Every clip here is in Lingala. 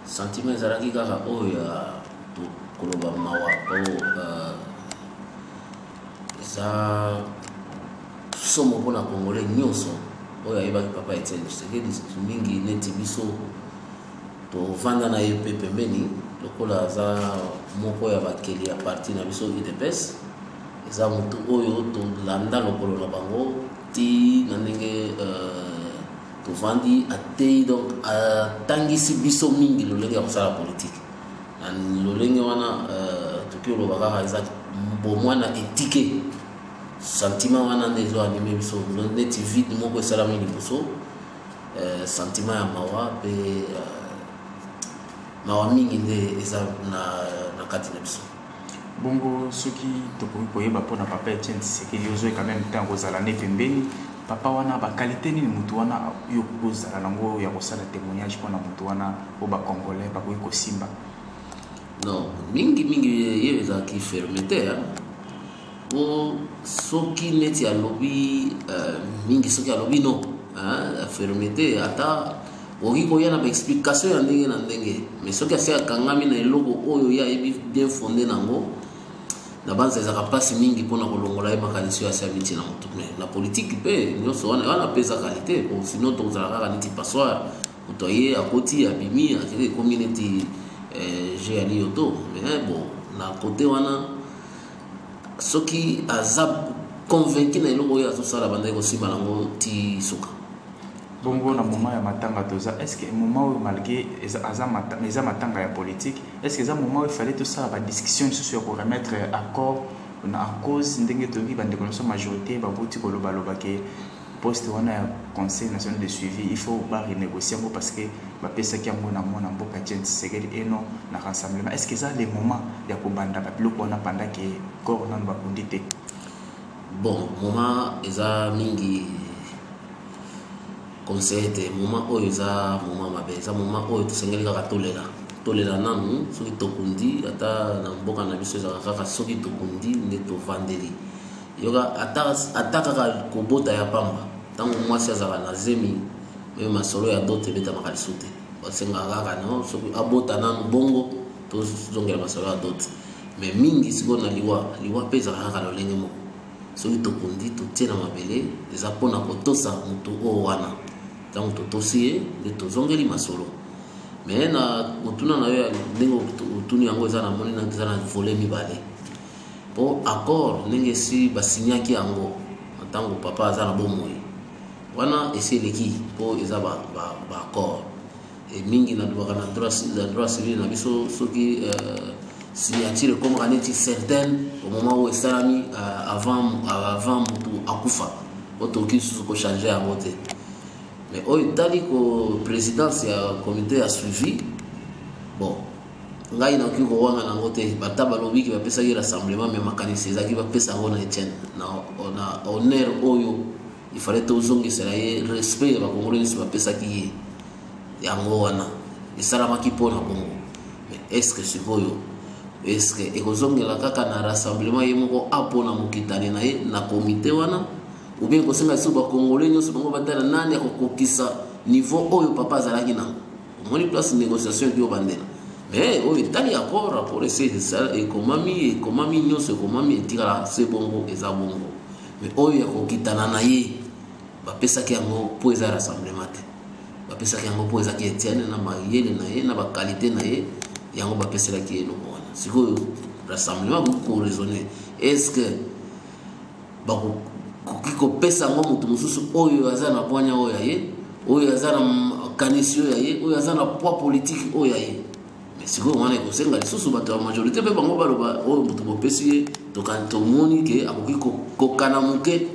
Sentiment ezalaki kaka oyo ya koloba mawa po euh, eza somo mpo na congolais nyonso oyo ayebaki papa etienne tshisekedi mingi neti biso tovanda na ye mpe pembeni lokola aza moko ya bakeli ya parti na biso udps eza motu oyo tolanda lokolo na bango ti na ndenge euh, tovandi ateyi donc atangisi biso mingi lolenge ya kosala politike na lolenge wana euh, toki oloba kaka eza bomwana etike sentiment wana nde ezo anime biso neti vide moko esalami liboso euh, sentiment ya mawa mpe euh, mawa mingi nde eza na kati na biso Bongo soki tokoki koyeba pona papa Etienne Tshisekedi yo zoe quand même temps kozala ne pembeni papa wana ba qualité nini mutu wana yo kozala nango ya kosala témoignage pona mutu wana o ba congolais bakoki kosimba non mingi mingi ye ezalaki fermete hein po soki neti alobi uh, mingi soki alobi no uh, fermete ata okoki koya na baexplication ya ndenge na ndenge mais soki asi akangami na eloko oyo ye ayebi bien fonde nango na banza ezalaka mpasi mingi mpona kolongola ye makanisi oyo asi amiti na motu mais na politike mpe nyonso wana wana mpe eza kalite po sino tozala kaka neti passoire moto aye akoti abimi akende ekomi neti eh, je ya liyoto mais bon na kote wana soki aza convaincu na eloko oyo azosala bandaki kosimba nango ti suka bongo na moment ya matanga toza est ce que moment oyo malgré aza matanga eza matanga ya politique est ce que eza moment oyo fallait tosala badiscussion lisusu ya koremettre accord na cause ndenge toyoki bandeko na biso majorité babuti kolobaloba ke poste wana ya conseil national de suivi il faut ba renégocier yango parce que bapesaki yango na mwana mboka jen tshisekedi et non na rassemblement est ce que eza le moment ya kobanda babiloko wana panda ke corps nano bakundi te bon moment eza mingi conseil te moment oyo eza moment mabe eza moment oyo tosengeli kaka tolela tolela nanu soki tokundi ata na mboka na biso ezalaka kaka soki tokundi nde tovandeli yoka ata, ata kaka kobota ya pamba ntango mwasi azalaka na zemi me masolo ya dote ebetamaka lisu te basengaka kaka no soki abota nanu bongo tozongela masolo ya dote me mingi sikoyo na liwa liwa mpe ezalaka kaka lolenge moko soki tokundi totie na mabele eza mpo na kotosa motu oyo wana ntango totosi ye nde tozongeli masolo me na motuna na yo ya ndenge otuni yango eza na moni eza na vole mibale mpo accord ndenge esi basignaki yango na ntango papa aza na bomoi wana esi eleki mpo eza baaccord e mingi nalobaka na droit civil na biso soki euh, signature ekomaka neti certaine au moment oyo esalami euh, avant motu akufa po tokoki lisusu kochange yango te mais oyo etali ko présidence ya comité ya suivi bon ngai nakoki kowangana yango te bata balobi ke bapesaki rassemblement me makanisi ezalaki bapesa yango na etienne na honneur oyo ifale tozongisela ye respect ya bakongolo nyonso bapesaki ye yango wana esalamaki mpo na kongo eske sikoyo eske ekozongela kaka na rassemblement ye moko apo na mokitani na ye na komite wana oubien ekosenga lisusu bakongole nyonso bango batala nani akokokisa niveau oyo papa azalaki nango omoni place négociation dio bandela mais oyo etali accord accord ese ekomami ekomami nyonso ekomami etikala se bongo eza bongo mais oyo ya kokitana na ye bapesaki yango mpo eza rassemblement te bapesaki yango mpo ezaki etiane na mayele na ye na bakalite na ye yango bapeselaki ye eloko wana sikoyo rassemblement koki koraisonne est ce que bakoki kopesa yango moto mosusu oyo aza na bwanya oyo ya ye oyo aza na makanisi oyo ya ye oyo aza na poids politiki oyo ya ye mais sikoyo wana ekosenga lisusu bato ya majorité mpe bango baloba oyo oh, moto bopesi ye tomoni ke akoki kokana moke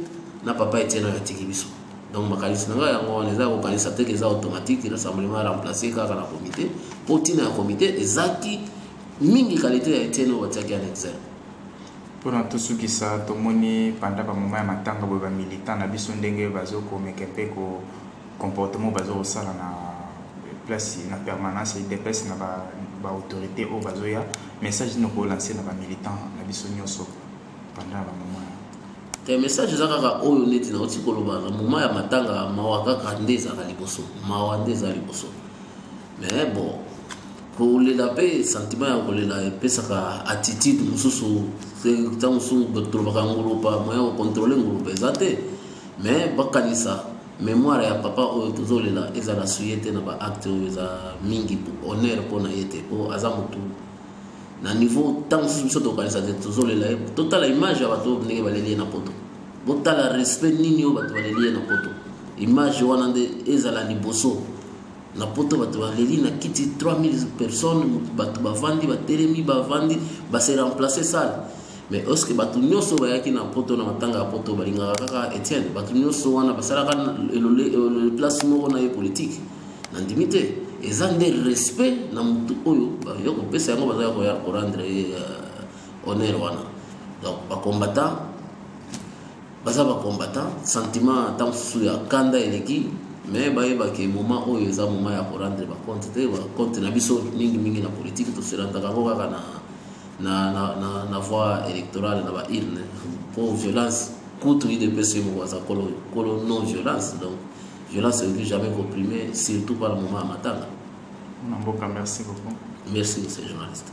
na papa etiene oyo atiki biso donc makanisi na ngai yango wana eza kokanisa teke eza automatique rassemblement remplace kaka na comité mpo ntina ya comité ezaki mingi kalite ya etiene oyo batiaki ya nexel Pona tosukisa, tomoni pendant ba moment ya matanga boye ba militants na biso ndenge bazo ko meka un peu ko comportement oyo bazo kosala na place na permanence ya udps na ba autorites oyo bazo ya, message nini oko lancer na ba militants na biso nioso pendant ba moment ya. Te message eza kaka oyo neti nauti koloba na moment ya matanga mawa kaka nde ezalaka liboso, mawa nde eza liboso. mais bon kolela mpe sentiment ya kolela epesaka attitude mosusu ntango mosusu tolobaka ngulupa moya kocontrole ngulupa eza te mais bakanisa mémoire ya papa oyo tozolela ezala suye te na baacte oyo eza mingi honneur mpo na ye te mpo aza motu na niveau ntango mosusu biso tokanisa te tozolela ye totala image ya bato ndenge baleli ye na poto botala respect nini oyo bato baleli ye na poto image wana nde ezala liboso na poto bato baleli na kiti 3000 personnes bato bavandi batelemi bavandi base remplace sale mais oske bato nyonso bayaki na poto na matanga ya poto balingaka kaka etienne bato nyonso wana basalaka place moko na ye politike nandimi te eza nde respect na motu oyo bayo kopesa yango bazalaki koya korendre ye euh, honneur wana donc bacombattant baza ba combattant sentiment ntango mosusu ya kanda eleki mais bayeba ke moment oyo eza moment ya korendre bacompte te bacompte na biso mingimingi na politike toserandaka yango kaka na, na, na, na, na voie électorale na baurne mpo violence kutu idps yo moko aza kolo, kolo non violence donc violence ekoki jamais koprime surtout par moment ya matanga na mboka merci beaucoup merci monsieur journaliste